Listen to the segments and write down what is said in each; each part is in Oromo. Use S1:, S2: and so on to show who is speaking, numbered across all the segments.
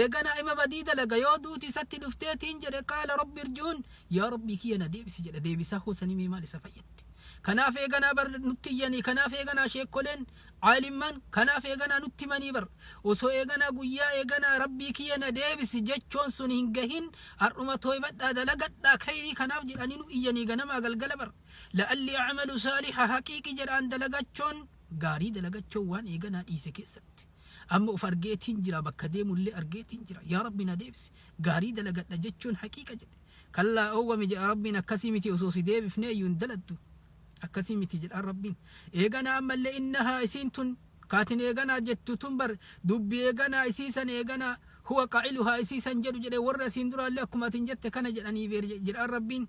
S1: Eeganaa ima badii dalaga yoo duuti isatti dhuftee tiin jedhe qaala rabbi irji'uun yaa rabbii kiyya na deebisi jedha deebisaa hoo sanii mee maal isa fayyatti. Kanaaf eeganaa bar nutti iyyanii kanaaf eeganaa sheekkoleen caalimmaan kanaaf eeganaa nutti himanii bar osoo eeganaa guyyaa eeganaa rabbii kiyya na deebisi jechoon sun hin gahin har'uma tooybadhaa dalagadhaa kayrii kanaaf jedhanii nu iyyanii ganamaa galgala bar la'alli acmalu saaliha haqiiqi jedhaan dalagachoon gaarii dalagachoon waan eeganaa dhiise keessatti. Amma of argeetiin jira bakka deemullee argeetiin jira. Yaa Rabbi na deebisi. Gaarii dalagadha jechuun haqiiqa jedhe. Kallaa oowwami jedha Rabbiin akkasii miti osoo si deebifnee iyyuu hin daladdu. Akkasii miti jedhaan Rabbiin. Eeganaa ammallee innahaa isiin tun kaatin eeganaa jettu tun bar dubbi eeganaa isii san eeganaa huwa qaciluhaa isii san jedhu jedhe warra isiin duraallee akkuma atin jette kana jedhanii beer jedhaan Rabbiin.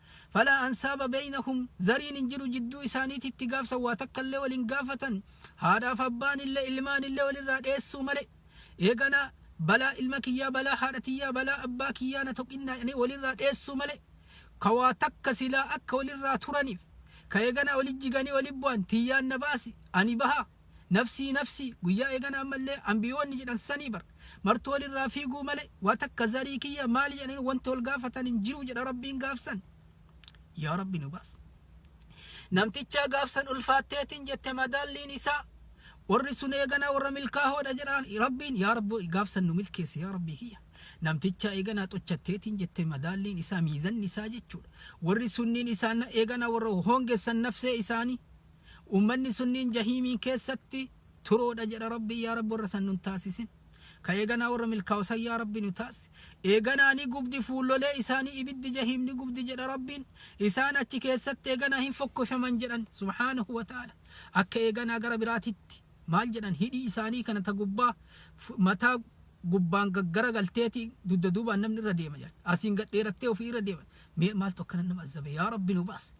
S1: Falaa ansaaba beynahum, zariin hin jiru jidduu isaaniititti gaafsan waa takka illee wal hin gaafatan, haadhaaf abbaan illee ilmaan illee wal irraa dheessuu malee, eeganaa balaa ilma kiyyaa balaa haadha tiyyaa balaa abbaa kiyyaa na tuqinnaa jedhanii wal irraa dheessuu malee, ka waa takka silaa akka wal irraa turaniif, ka eeganaa wali jiganii wali bu'an tiyyaan na baasi ani bahaa, Nafsii nafsii, guyyaa eegana ammallee anbiyoonni jedhan sanii bar. Martuu walirraa fiiguu malee, waa takka zarii kiyya maali jedhanii wanti wal gaafatan hin jiru jedha Rabbiin gaafsan. Yaa Rabbi nu baas. Namtichaa gaafsan ulfaatteetiin jette madaalliin isaa warri sun eeganaa warra milkaahoodha jedhaan Rabbiin yaa Rabbi gaafsan nu milkeessi yaa Rabbii kiyya. Namtichaa eeganaa xochatteetiin jette madaalliin isaa miizanni isaa jechuudha. Warri sunniin isaan eeganaa warra hoongessan nafsee isaanii Ummanni sunniin jahiimiin keessatti turoodha jedha Rabbiin yaa Rabbi warra san nun taasisin. Ka eeganaa warra milkaa'u san yaa Rabbi nu taasisi. Eeganaa ni gubdi fuullolee isaanii ibiddi jahiim ni gubdi jedha Rabbiin. Isaan achi keessatti eeganaa hin fokkofaman jedhan subhaanahu wa ta'ala. Akka eeganaa gara biraatitti maal jedhan hidhii isaanii kana ta gubbaa fu- mataa gubbaan gaggara galteeti dugda duubaan namni irra deema jedhan. Asiin gad dheerattee ofii irra deeman. Mee maaltu akkana nama azzabe yaa Rabbi nu baasi.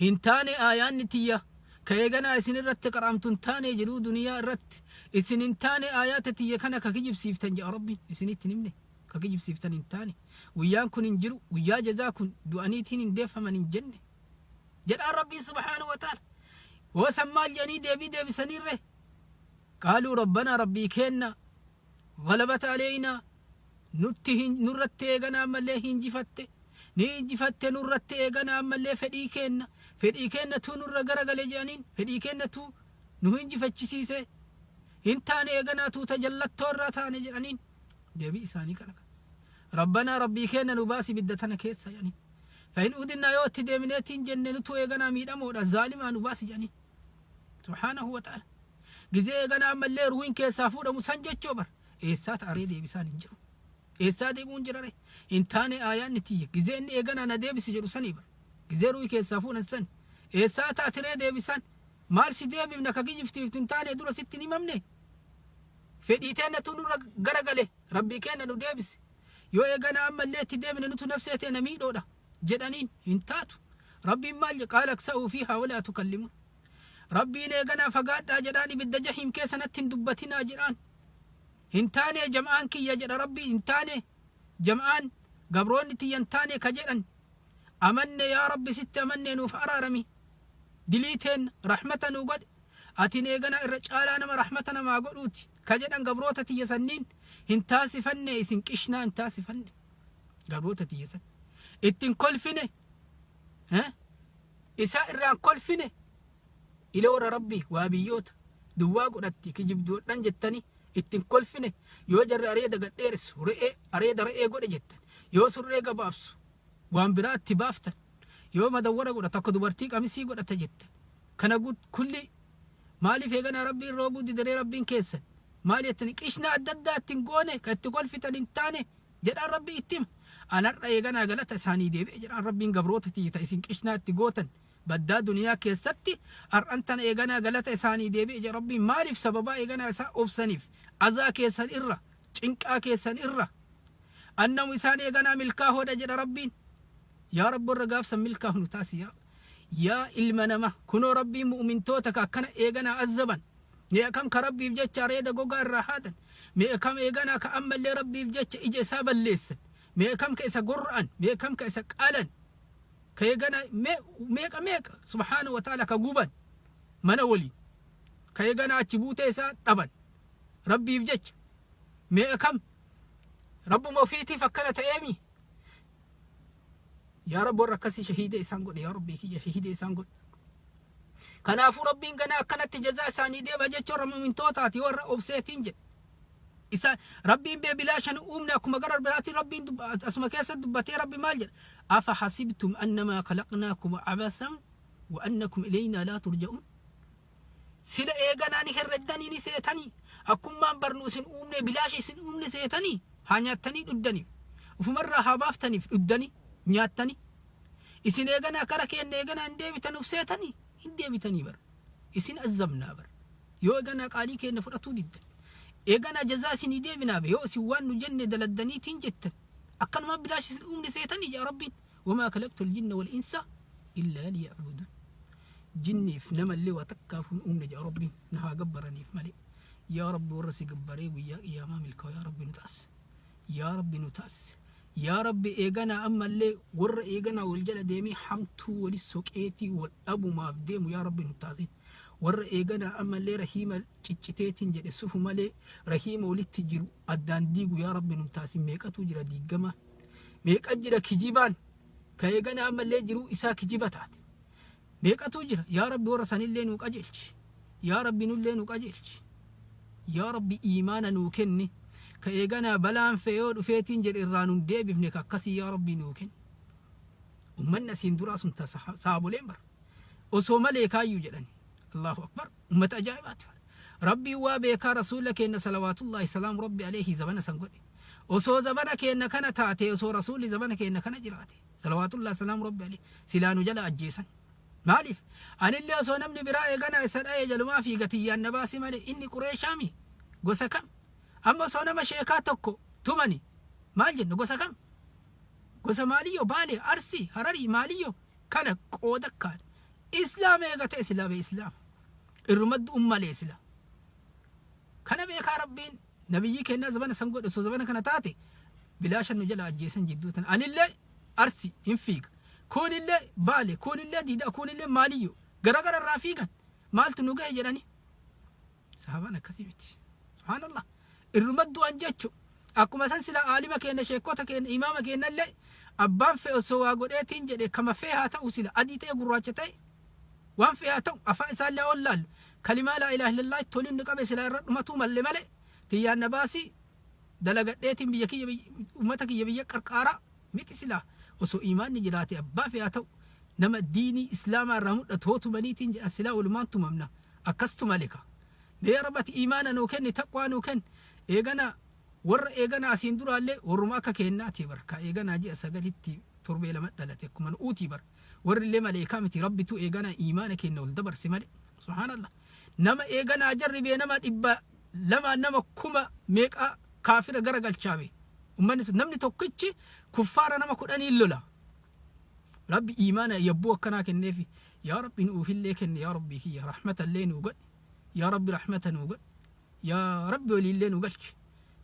S1: hin taane aayaanni tiyya ka eeganaa isin irratti qara'amtu hin taane jedhuu duniyaa irratti isin hin taane aayaata tiyya kana ka kijibsiiftan jedha rabbiin isinitti hin himne ka kijibsiiftan hin taane guyyaan kun hin jiru guyyaa jazaa kun du'aniitiin hin deeffaman hin jenne jedhaan rabbiin subhaanahu wa ta'ala hoosan maal jedhanii deebii deebisanirree qaaluu rabbanaa rabbii keenna Ghalabata aleeynaa, Nutti hin, nurratti eegana ammallee hinjifatte, ni injifatte nurratti eegana ammallee fedhii keenna, fedhii keenna tuu nurra garagale je'aniin, fedhii keenna tuu nu hinjifachisiise, hin taane eeganaa tuu ta jallattoo irraa taane je'aniin, deebii isaanii kana ka. Rabbanaa Rabbii keenna nu baasi ibidda tana keessaa je'aniin. Fa in udinnaa yoo itti deebineetiin jenne nutu eeganaa miidhamoodha, zaalimaa nu baasi je'aniin. subhaanahu wa ta'ala gizee eeganaa ammallee ruuhin keessaa fuudhamu san jechoo bar eessaa ta'aree deebisaan hin jiru eessaa deebi'uun jirare hin taane aayaan ni tiyya gizee inni eeganaa na deebisi jedhu sanii bar gizee ruuhi keessaa fuudhan san eessaa taatiree deebisaan maal si deebifna ka kijiftiif hin taane dura sitti hin himamne fedhii teennatu nurra garagale rabbii keenna nu deebisi yoo eeganaa ammallee itti deebine nutu nafsee teena miidhoodha jedhaniin, hin taatu. Rabbiin maal jedhe? Qaala aksa'uu fiihaa walaa tukallimuun. Rabbiin eeganaa fagaadhaa jedhaan ibidda jahiim keessa natti hin dubbatinaa jedhaan. Hin taanee jam'aan kiyya jedha Rabbiin hin taanee jam'aan gabroonni tiyya hin taanee ka jedhan. Amanne yaa Rabbi sitti amannee nuuf araarami. Dilii teenna rahmata nuu godhe. Atiin eeganaa irra caalaa nama rahmata namaa godhuuti ka jedhan gabroota tiyya sanniin hin taasifanne isin qishnaa hin taasifanne. Gabroota tiyya san. Ittiin kolfine. Eh? Isaa irraan kolfine. Ila warra rabbii waa biyyoota. Duwwaa godhatti kijibduudhaan jettanii ittiin kolfine. Yoo jarri areeda gad dheeressu re'ee areeda re'ee godhe jettan. Yoo surree gabaabsu waan biraa itti baaftan. Yoo madawwara godha takka dubartii qamisii godhata jettan. Kana guut- kulli maaliif eeganaa rabbiin roobuu didaree rabbiin keessan. Maal jettanii qishna adda addaa ittiin goone kan itti kolfitan hin taane jedhaan Rabbii itti hima. An har'a eeganaa galata isaanii deebi'e jedhaan Rabbiin gabroota tiyya ta isin qishnaa itti gootan baddaa duniyaa keessatti har'an tana eeganaa galata isaanii deebi'e jedha Rabbiin maaliif sababaa eeganaa isaa obsaniif azaa keessan irra cinqaa keessan irra annamu isaan eeganaa milkaahoodha jedha Rabbiin yaa Rabbi warra gaafsan milkaahnu taasi yaa Yaa ilma nama, kunoo Rabbiin mu'umintoota ka akkana eeganaa azzaban. Meeqa kam ka Rabbiif jecha areeda gogaa irraa haadan? Meeqa kam eeganaa ka ammallee Rabbiif jecha ija isaa balleessan? Meeqa kam ka isa gorra'an? Meeqa kam ka isa qalan? Ka eegana me- meeqa meeqa subhaanahu wa ta'ala ka guban mana waliin. Ka eegana achi buutee isaa dhaban. Rabbiif jecha. Meeqa kam Rabbuma ofiitiif akkana ta'eemi? yaa rabbi warra akkasii shahiida isaan godhe yaa rabbii kiyya shahiida isaan godhe kanaafuu rabbiin ganaa akkanatti jazaa isaanii deeba jechuun warra mu'mintootaati warra obseetiin jedhe isa rabbiin bee bilaashan uumne akkuma gara biraatiin rabbiin dubba- asuma keessa dubbatee rabbi maal jedha afa hasibtum annamaa khalaqnaakum abasan wa annakum ilaynaa laa turja'uun Sila eeganaa ni herreddanii ni seetanii. Akkummaan barnu isin uumnee bilaashi isin uumne seetanii haa nyaattanii dhuddaniif. Ufumarraa haa baaftaniif dhuddanii nyaattanii. Isin eeganaa kara keenya eeganaa hin deebitanuuf seetanii hin deebitanii bar. Isin azzabnaa bar. Yoo eeganaa qaalii keenya fudhatuu diddan. Eeganaa jazaa isinii deebinaa be yoo isin waan nu jenne daladdaniitiin jettan. Akkanumaan bilaashi isin uumne seetanii jaa rabbiin. Wamaa kalaqtul jinna wal insa illaa liya'buduun. Jinniif namallee waa takkaaf hin uumne jedha Rabbiin na haa gabbaraniif malee. Yaa Rabbi warra si gabbaree guyyaa qiyaamaa milkaawu yaa Rabbi nu taas. Yaa Rabbi nu taas. Yaa Rabbi eeganaa ammallee warra eeganaa wal jala deemee hamtuu wali soqeetii wal dhabumaaf deemu yaa Rabbi nu taasiin. Warra eeganaa ammallee rahiima cicciteetiin jedhe sufu malee rahiima walitti jiru addaan diigu yaa Rabbi nu taasiin meeqatu jira diigamaa. meeqa jira kijibaan ka eegana ammallee jiruu isaa kijiba taate meeqatu jira yaa rabbi warra sanillee nuu qajeelchi yaa rabbi nullee nu qajeelchi yaa rabbi iimaana nuu kenni ka eeganaa balaan fee yoo dhufeetiin jedhe irraa nun deebifne ka akkasii yaa rabbi nuu kenni ummanni asiin duraa sun ta saaboleen bara osoo malee kaayyuu jedhani allahu akbar ummata ajaa'ibaati bar rabbiin waa beekaa rasuula keenna salawaatullaahi salaamu rabbi aleeyhi zabana san godhe osoo zabana keenna kana taate osoo rasuulli zabana keenna kana jiraate salawaatullaahi salaamu rabbi aleeyhi silaa nu jala ajjeesan maaliif anillee osoo namni biraa eeganaa isa dha'ee jalumaa fi gatiyyaan na baasi malee inni qureeshaami gosa kam amma osoo nama sheekaa tokko tumani maal jenna gosa kam gosa maaliyyoo baale arsii hararii maaliyyoo kana qooda akkaan islaam eegatee sila bee islaam irrumaddu ummalee sila kana beekaa rabbiin nabiyyii kennaa zabana san godhe osoo zabana kana taate bilaashan nu jala ajjeesan jidduu tana anillee arsi hin fiiga kuunillee baale kuunillee diidaa kuunillee maaliyyu gara gara irraa fiigan maaltu nu gahe jedhanii Sahabaan akkasii miti. Subhaanallah. Irruma du'an jechu. Akkuma san sila aalima keenya sheekota keenya imaama keenya illee abbaan fe'e osoo waa godheetiin jedhe kama fe'e haa ta'u sila adii ta'e gurraacha ta'e waan fe'e haa ta'u afaan isaa illee ol laallu kalimaa laa ilaaha illallah itti waliin nu qabe sila irra dhumatuu malle malee tiyyaan na baasii dalagadheetiin biyya kiyya uummata kiyya biyya qarqaaraa miti sila osoo imaanni jiraate abbaa fe'e haa ta'u nama diinii islaamaa irraa mul'atu hootumaniitiin jedhan silaa walumaan tumamna. akkastu male ka mee yaa rabb ati iimaana nuu kenni taqwaa nuu kenni eegana warra eegana asiin duraalle warruma akka keennaati bar ka eeganaa ji'a sagalitti torbee lama dhalate akkuma nu'uuti bar warrille maleeykaa miti rabbitu eegana iimaana keenna ol dabarse male subhaanallah nama eeganaa jarribee nama dhibba lamaan nama kuma meeqa kaafira gara galchaa bee ummanni sun namni tokkichi kuffaara nama kudhaniin lola rabbi iimaana yabbuu akkanaa kenneefi Yaa Rabbi nuufillee kenni yaa Rabbii kiyya rahmatallee nuu godhi yaa Rabbi rahmata nuu godhi yaa Rabbi waliillee nu galchi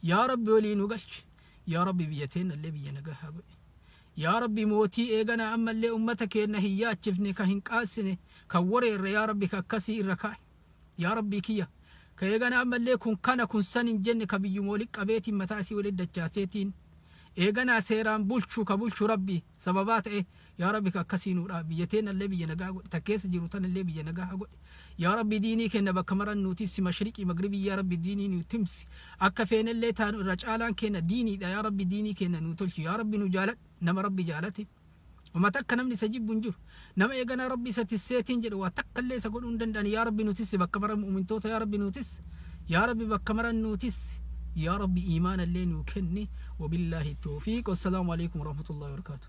S1: yaa Rabbi walii nu galchi yaa Rabbi biyya teennallee biyya nagahaa godhi yaa Rabbi mootii eeganaa ammallee ummata keenna hin yaachifne ka hin qaansine kan wareerre yaa Rabbi ka akkasii irra kaa'i yaa Rabbii kiyya ka eeganaa ammallee kun kana kun san hin jenne ka biyyuma walitti qabeetiin mataa isii walitti dachaaseetiin eeganaa seeraan bulchu ka bulchu Rabbi sababaa ta'e yaa rabbi ka akkasii nuu dhaab biyya teenna illee biyya nagaa godhi ta keessa jiru tan illee biyya nagaa godhi yaa rabbi diinii kenna bakka maran nuu tissi mashriqii magribii yaa rabbi diinii nuu timsi akka feene illee taanu irra caalaan kenna diiniidha yaa rabbi diinii kenna nuu tolchi yaa rabbi nu jaaladhu nama rabbi jaalate Ummata akka namni isa jibbu hin jiru. Nama eeganaa Rabbi isa tisseetiin jedhe waa takka illee isa godhuu hin danda'an yaa Rabbi nu tissi bakka mara mu'mintoota yaa Rabbi nu tissi yaa Rabbi bakka maran nu tissi yaa Rabbi iimaana illee nuu kenni wabillaahi toofiiq wassalaamu alaikum warahmatullahi wabarakaatu.